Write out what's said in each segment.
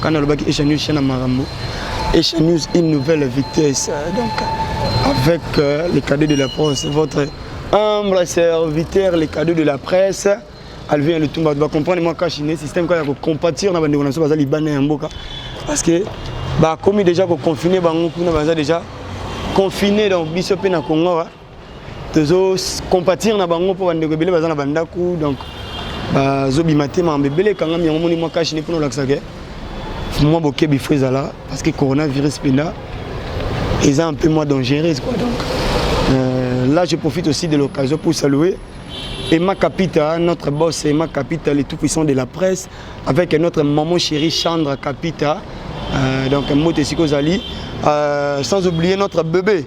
Quand nalobaki Asia News na makambo, Asia News une nouvelle vitesse. Donc avec euh, les cadets de la presse, votre humble serviteur, les cadets de la presse, Alvin Lutumba, tu vas comprendre moi quand je suis système quand il y a compatir na bande naso bazali bana ya mboka parce que ba komi déjà ko confiner bango kuna baza déjà confiné donc biso pe na Congo. Hein. tozo compatir na bango mpo bandeko ebele baza na bandako donc bazobima te mambo ebele ekangami yango moni mwa kashi ne mpona olakisa ke mwa bokebi fo ezala parce que coronavirus mpenza eza un peu moins dangereuse quoi donc euh, là je profite aussi de l'occasion pour saluer Emma Capita, notre boss Emma Capita, le tout puissant de la presse, avec notre maman chérie Chandra Capita, euh, donc Mote Sikozali, euh, sans oublier notre bébé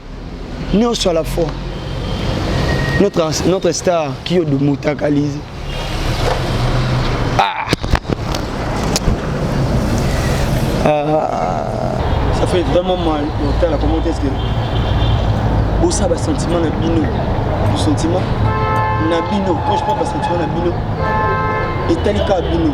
Nioso à la fois. Notre, notre star, Kyo de Moutakalize. Ah. ah. Ça fait vraiment mal. Comment commenté ce que. Bossa, bah, sentiment, la bino. Le sentiment. na bino quand je parle basentiment na bino etali kaka bino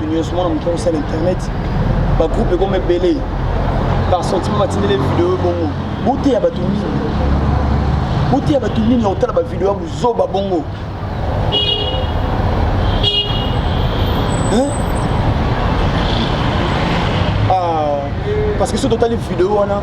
nyonso mwana moto akosala internet bagroupe ekoma ebele par sentiment batindele video bongo boteya bato nini boteya bato nini ya kotala bavideo ya buzoba bongo ah, parce que soki totali video wana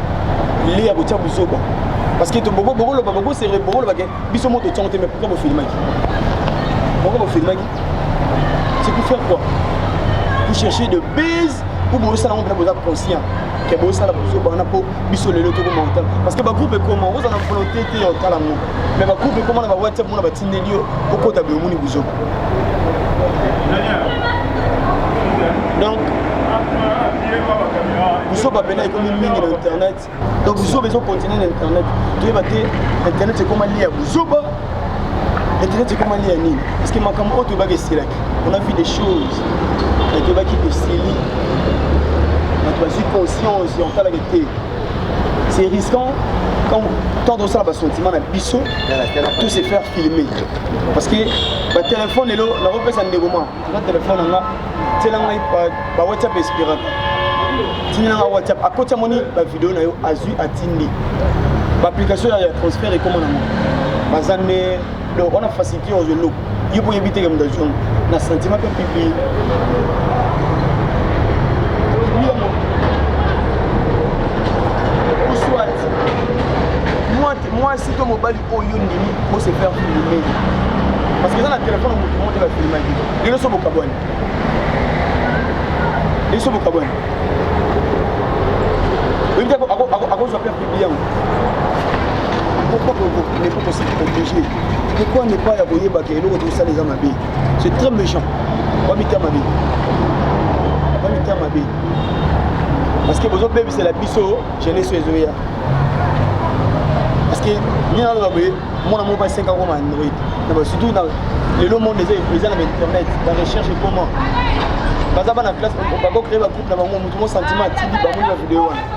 lili ya kotia buzoba parce que bokoloba bokosere bokoloba ke biso moto tongo te mais pourquoi bofilimaki pourquoi bofilimaki c'est pour faire quoi pour chercher de base ou bozosala yango mpena boza conscient ke bozosala bozoba wana mpo biso lelo tokoma otala parce que bagroupe ekoma ozala na volonté te ya otala yango mais bagroupe ekoma na bawhatsapp mona batindeli yo okota boyomoni buzoba donc buzoba mpena ekomi mingi na internet donc buzoba ezokontinue na internet toyeba te internet ekoma lia buzoba internet ekoma lia nini parce que makambo oyo toyebaki esilaki on a vu des choses toyebaki esili bato bazwi conscience ya otalaka te c'est risquant quand quand on sala basentiment na biso tout se faire filmer parce que batelefone lelo nakopesa ndeko ma na telefone na nga tiela ngai bawhatsapp espiraka tindela nga whatsapp akoti amoni bavideo na yo azwi atindi baapplication ya transfert ekoma nango baza nde donc wana facilité ozo eloko yo mpo oyebi teke moto azwi na sentiment mpe publie mwasi to mobali oyo oh, ondimi ose faire filme parce que eza na telefone motu moko te bafilmaki lelo so bokabwani lelo so bokabwani oyebi te akozwa Bien. Pourquoi ne pas se protéger Pourquoi ne pas ya koyeba que eloko tosala eza mabe C'est très méchant. Bamita mabe. Bamita mabe. Parce que bozo bebisela biso jeunesse oyo ezoya. Parce que nini naloba boye mwana moko basi 5 ans koma android surtout na lelo monde eza eza na bainternet barecherche ekoma baza bana classe bakocree bagroupe na bango motu mo sentiment atindi bamoni bavideo wana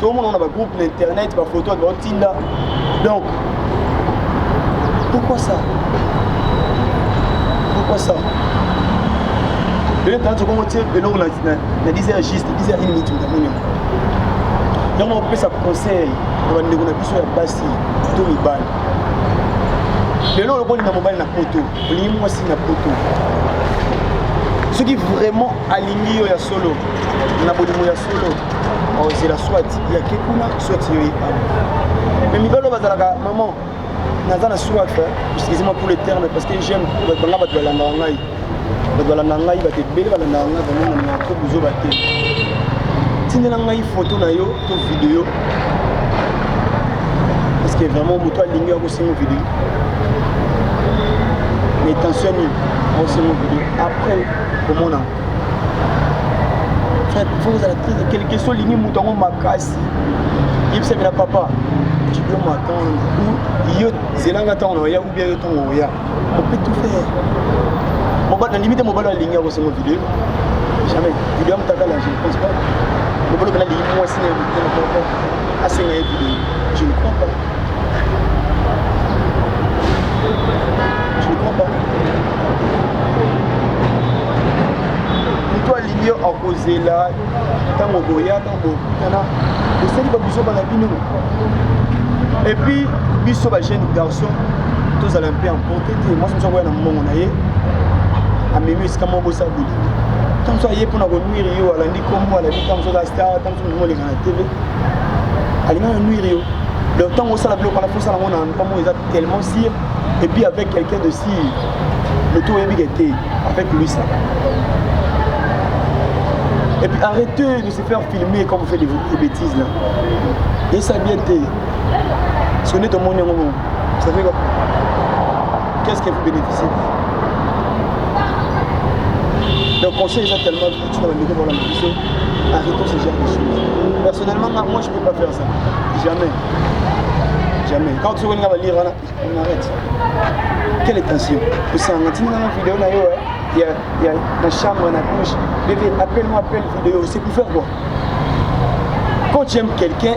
tomona na bagroupe na internet bafoto ya baotinda donc pourquoi ça pourquoi ça eloko ntango okomo tie eloko na dise ya juste dise ya une minute motamoni yango opesa conseil na bandeko na biso ya basi to mibali lelo oloko olinga mobali na poto olingi mwasi na poto soki vraiment alingi yo ya solo na bolingo ya solo ozela soit yake kuna soit yo yekana mais mibalo bazalaka maman naza na soif excusez-moi pour le terme parce que j'aime banga bato balandaka ngai bato balandaka ngai bato ebele balandaka ngai vraiment na trop buzoba te tindela ngai foto na yo to video parce que vraiment moto alingi akosenga video mais tension nini akosenga video après komona faut kozala très quelque soit olingi moto yango makasi yebisami na papa tu dois m'attendre ou yo zelanga ntango na oya ou bien yo ntango oya on peut tout faire mobali na ndimi te mobali alingi akosoma video jamais video ya motakala je ne pense pas mobali opena alingi mwasi na ye motema moko asenga ye video je ne crois pas yo akozela ntango boyaka bokutana bosali babuzoba na bino epuis biso bajeune garçon tozala mpe emporte te mwasi mosu akoya na mbongo na ye amemi esika moko bosala bolingi ntango mosu aye mpo na konuire yo alandi nkombo alandi ntango mosu aza star ntango mosu molingo aleka na tv alinga na nuire yo donc ntango osala biloko wana fosala yango na endroit moko eza tellement sire et puis avec quelqu'un de sire moto oyebi ke te avec lui ça et puis arrêtez de se faire filmer quand vous faites des, des bêtises là yesa bien te soki nde tomoni yango bongo ça fait quoi qu'est ce que vous bénéficiez donc conseil eza tellement tika bandeko bolanda biso arrêtons ce genre de choses personnellement nga moi je peux pas faire ça jamais jamais quand tu regardes la lire on arrête quelle tension osanga ntina nanga video na yo ya ya na chambre na douche bébé appelle moi appelle vidéo c'est pour faire quoi quand tu aimes quelqu'un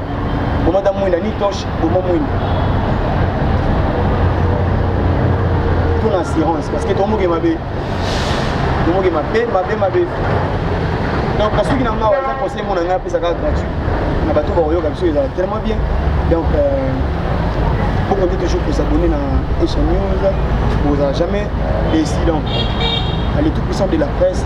boma ta mwinda ni toche boma mwinda tuna assurance parce que tomoke mabe tomoke mabe mabe mabe donc kasuki na ngawa eza conseil mona ngai apesaka gratuit na bato bakoyoka biso ezala tellement bien donc euh, boko nde toujours kosabonne na echan news bozala jamais déci donc le tout puissant de la presse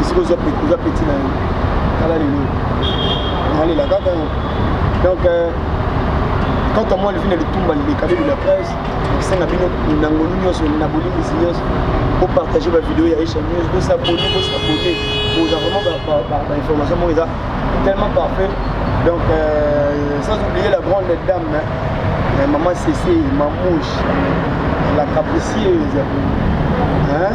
esika oza peti na yo tala lelo nalela kaka donc euh, quand on moi levi na litumba lilekale de la presse nakosenga bino na ngolu nyonso na bolimbisi nyonso bopartage bavideo ya echa news bosabone bosabone boza vraiment bainformation moko eza tellement parfait donc euh, sans oublier la grande dame hein, maman cc mamouche la capricieuse hein?